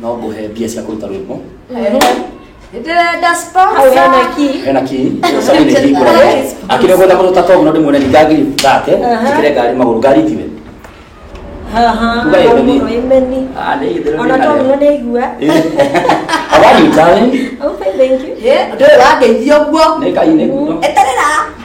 no ngũhe mbia cia kũruta rwĩmbo ndĩrenda hena ki sabi nĩ hingũra akĩrĩ ũgwenda mũndũ tatogũno ndĩmuone ni ngagiri thate njĩkĩre ngari magũrũ ngari tiwe ona togũno nĩ igua awari darling okay thank you ndĩrĩ wangeithia ũguo nĩ ngai nĩ eterera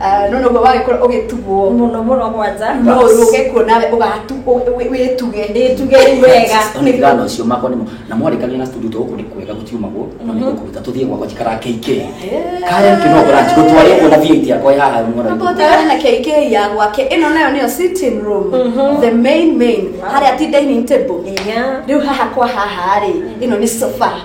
Ah, none ũguo wagĩkũra ũgĩtugwo mũno mũno gwanja no ũrũge kuo nawe ũgatu ũ- ũ- wĩtuge ĩtuge rĩu wega ndigana ũcio makwa nĩmo na mwarĩkania na studio tũgũkũ nĩ kwega gũtiumagwo no nĩ gũkũruta tũthiĩ gwakwa njikara KK kaya kĩno branch gũtwarĩ kuona VAT yakwa yaha mwana witũ. Tũtare na KK ya gwake ĩno nayo nĩyo sitting room the main main harĩa ti dining table Yeah. rĩu haha kwa haha rĩ ĩno nĩ sofa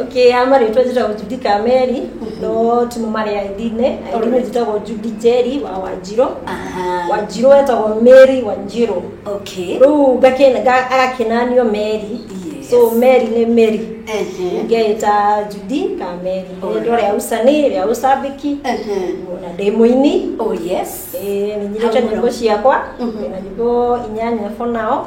Okay, ama rĩtwa njĩtagwo Judy Kameri, no ti mama rĩa ithinĩ, ithinĩ njĩtagwo Judy Njeri wa Wanjirũ. Aha. Wanjirũ etagwo Mary Wanjirũ. Okay. Rĩu ngakĩna- nga- agakinanio Mary. Yes. So Mary nĩ Mary. Ehe. Ngeĩta Judy Kameri. Alright. Rĩtwa rĩa Usa nĩ rĩa Usabiki. Ehe. Na ndĩ mũini. Oh yes. Eh, nĩnyirĩte Hamũra. nyĩmbo ciakwa. Mhm. Na nyĩmbo inyanya for now.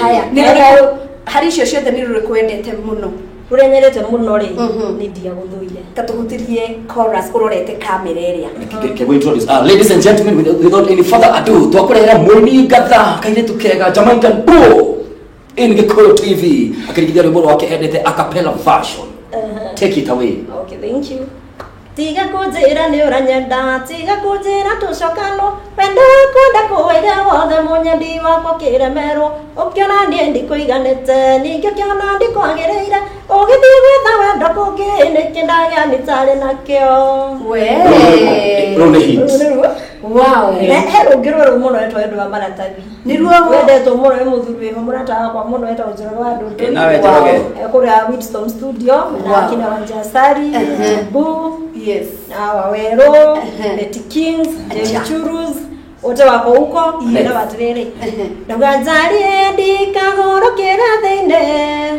haya nĩ rĩrĩkũ harĩ icio ciothe nĩ rĩrĩkũ wendete mũno rũrĩa nyendete mũno rĩ Mhm. nĩ ndiagũthũire katũhutirie chorus ũrorete kamera ĩrĩa Can we introduce? Uh, ladies and gentlemen, with- without any further ado, twakurehera mwini ngatha kairetu kega Jamaican Bull in Gikuyu TV akirigithia rwimbo rwake endete a cappella version. Take it away. okay thank you Tiga kũnjĩra nĩ ũranyenda, tiga kũnjĩra tũcokanwo, wendo wakwa ndakũwĩre wothe mũnyendi wakwa kĩremerwo, ũkĩona niĩ ndikũiganĩte, ningĩ ũkĩona ndikwagĩrĩire, ũgĩthiĩ gwetha wendo kũngĩ, nĩkĩ ndagĩa nĩtarĩ nakĩo. Wee. Rũu nĩ hit. Wow. He rũngĩ rwerũ mũno rwetwo wendo wa maratathi. Nĩruo wendetwo mũno nĩ mũthuri wĩho mũrata wakwa mũno etagwo Njoroge wa Ndũndũ. Eh, nawe Njoroge. Eh, Kũrĩa Winston Studio na Wow. akina Wanja Sari, Ehe. Mbu, Yes. na Wawerũ, Ehe. Betty Kings, Acha. Jerry Churus, wote wako huko Yes. na watirĩrĩ. Ehe. Ndauga njarie ndikagũrũkĩra thĩinĩ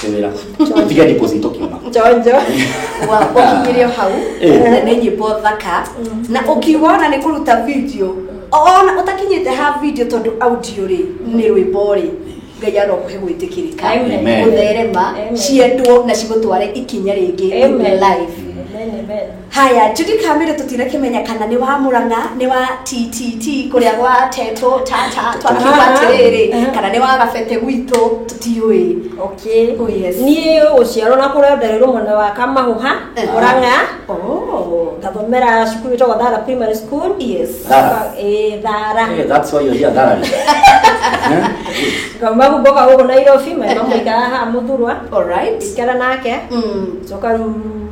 Tewera. Tiga deposit ukiona. njonjo wakinyĩrio hau Eh. na nĩ nyĩmbo thaka na ũkiuga ona nĩ kũruta video ona ũtakinyĩte ha video tondũ audio rĩ nĩ rwĩmbo rĩ ngai arokũhe gwĩtĩkĩrĩka Amen. Amen. gũtherema Amen. ciendwo na cigũtware ikinya rĩngĩ in Amen. life Amen, amen. Haya, Judy Kamere tutirakimenya kana nĩ wa Murang'a, nĩ wa TTT kũrĩa gwa Teto Tata twakiuga atĩrĩrĩ kana nĩ wa Gabete gwitũ tũtiũĩ. Okay. Oh, yes. Niĩ gũciarwo na kũrĩa ndarĩrwo mwena wa Kamahũha, Eh. Murang'a. Oh. Ngathomera cukuru ĩtagwo Thara Primary School. Yes. Thara. Eh, Thara. Hey, that's why you're here, Darren. Eh? Ngauma kumboka gũkũ Nairobi, maima mũikara haha mũthurwa. All right. Ikara nake. Mm. Coka rĩu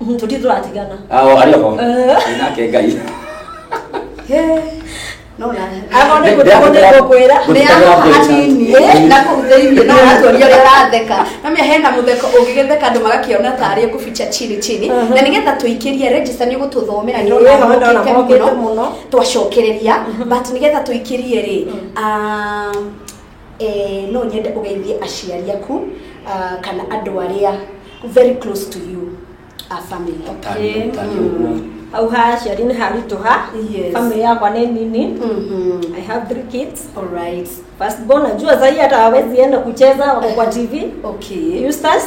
Mhm, tũtirĩ tũratigana Ao arĩ ho. Nake Ngai. namia hena mutheko ũngĩgetheka andũ magakiona tarĩ kubicha chini chini na nĩgetha tũikĩrie register nĩ gũtũthomera Ĩĩ, ndĩrona ndĩrona mũkĩte mũkĩte mũno mũno. twacokereria but nĩgetha tũikĩrie rĩ um, Eh, no nyende ũgeithie aciari aku ah, kana andũ arĩa very close to you a family Tani- tani ũguo. hau ha aciari nĩ haritũha Yes. family yakwa nĩ nini Mhm. i have three kids All right. first born najua zai hata hawezi enda kucheza wako kwa tv Okay. Eustace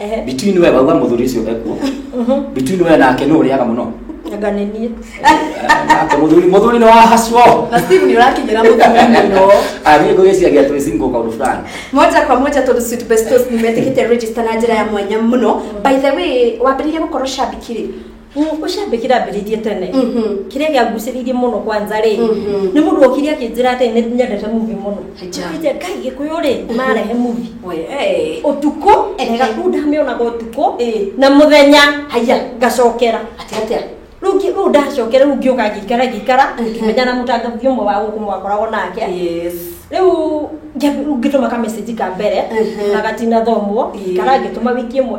Ehe. between we wauga mũthuri ũcio ekuo between we nake nũ ũrĩaga mũno Anga nĩ niĩ. Eh, nake mũthuri mũthuri nĩ wahacwo Na Steve nĩ ũrakinyĩra mũtumia mũno. niĩ ngũgĩciagia twĩ single kaũndũ fulani moja kwa moja tondå sweet bestos nä metä kä te register na njä ra ya mwanya må no by the way wambä rä rie gå korwo shabikirä ucambikira ambiririe tene Mhm. kiria gianguciririe muno kwanza ri Mhm. ni mundu okire akinjira ati ni nyendete muvi muno Aja. Nje, ngai gikuyu ri marehe muvi We, eh. utuku Eke. ngaku ndamionaga utuku Eh. na muthenya haya ngacokera Ati atia? rungi ru ndacokera ru ngiuka ngikara ngikara Mhm. ngimenya na mutangathi umwe wa guku mwakoragwo nake Yes. riu ngituma ka message ka mbere Mhm. na gatina thomwo Ii. kana ngituma wiki imwe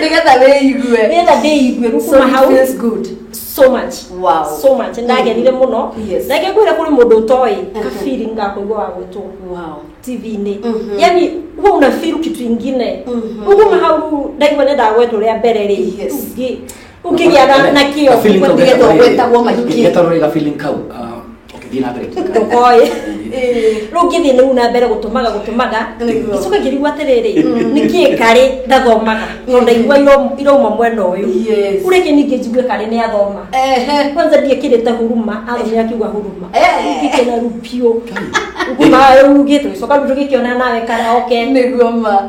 nĩgetha wĩigue nĩgetha ndĩigue rĩu so kuma it hau feels good so much Wow. so much ndagenire mũno Yes. na ngĩkwĩra kũrĩ mũndũ ũtoĩ Mhm. kabiri ngakũigua wa gwĩtwo wow tv-inĩ Mhm. yani huwa unafiru kitu ingine Mhm. ukuma hau ndaigua nenda gwetwo rĩa mbere rĩ Yes. Ngi- ũkĩgĩa na- na kĩo Ka feeling kau nĩgetha getagwo- wetagwo mahiki getagwo rĩ ga feeling kau ah, ũkĩthiĩ na mbere ndũkoĩ rĩu ngĩthiĩ nĩu na mbere gũtũmaga gũtũmaga Nĩguo. gĩcoka ngĩrigua atĩrĩrĩ nĩkĩ karĩ ndathomaga no ndaigua iro- irauma mwena ũyũ Yes. ureke ningĩ njigue karĩ nĩ athoma Ehe. kwanza ndiekĩrĩte huruma athomire akiuga huruma Eh. ngĩkena rupiũ nguma rugĩte gĩcoka rugĩkĩona nawe karaoke Nĩguo ma.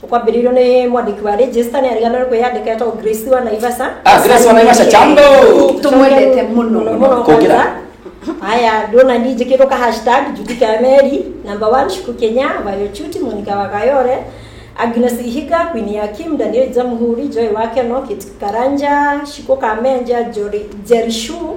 Tukwambĩrĩirio nĩ mwandĩki wa register nĩ arigana nĩ kwĩyandĩka etagwo Grace wa Naivasha. Ah, Grace wa Naivasha, jambo. Tũmwendete mũno. Mũno, mũno Kũngĩra. kwanza. Haya, ndona ni njĩkĩtwo ka hashtag Judika ya Meri, number one, Shuku Kenya, Vayo Chuti, Monica Wakayore, Agnes Ihiga, Queen ya Kim, Daniel Jamuhuri, Joy Wakeno, Kit Karanja, Shiko Kamenja, Jori- Jerishu,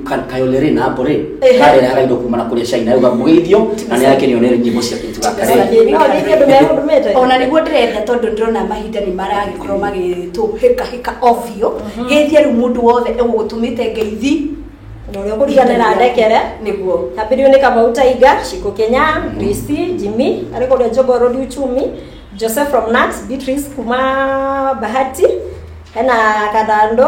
Ka- kayolere na bore Ehe. karere harairo kumana kuri cai nayo gamugeithio na ni yake ni onere nyimbo cia kintu gaka Sasa rĩ ni- no, ni kĩndũ gĩa mũndũ mete. ona niguo ndĩrenda tondũ ndĩrona mahinda nĩ maragĩkorwo magĩtũhĩkahĩka ovio gĩthia rĩu mũndũ wothe egũgũtũmĩte ngeithi na ũrĩa ũkũrigana na ndekere nĩguo ambĩrĩo nĩ kamau taiga ciko kenya risi jimi arĩ kũrĩa njogo road uchumi joseph from nat beatrice kuma bahati hena kathando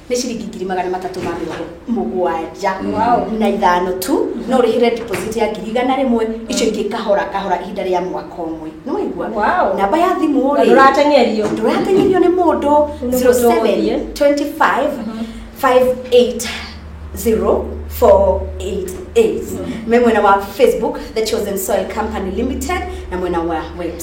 nä ciringi ngiri magana matatå ma mä rongo må gwanja na ithano tu no å rä hä re deposit ya ngiri igana rä mwe icio ingä kahora kahora ihinda rä a mwaka å mwe nä waigua Wow. namba ya thimå Na ndũratenyerio. ndåratenyerio nä må ndå Nĩ mũndũ ũgũthiĩ. 0725580488 me mwena wa facebook the chosen soil company limited na mwena wa website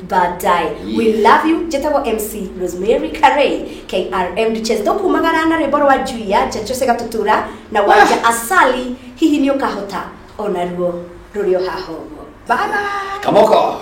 badai Yes. we love you njĩtagwo mc rosemary carey krm duches tũkumagara na rwĩmbo rwa juia chechose gatutura na wanja asali hihi nĩ ũkahota onaruo rũrĩ o haha ũguo bye bye kamoko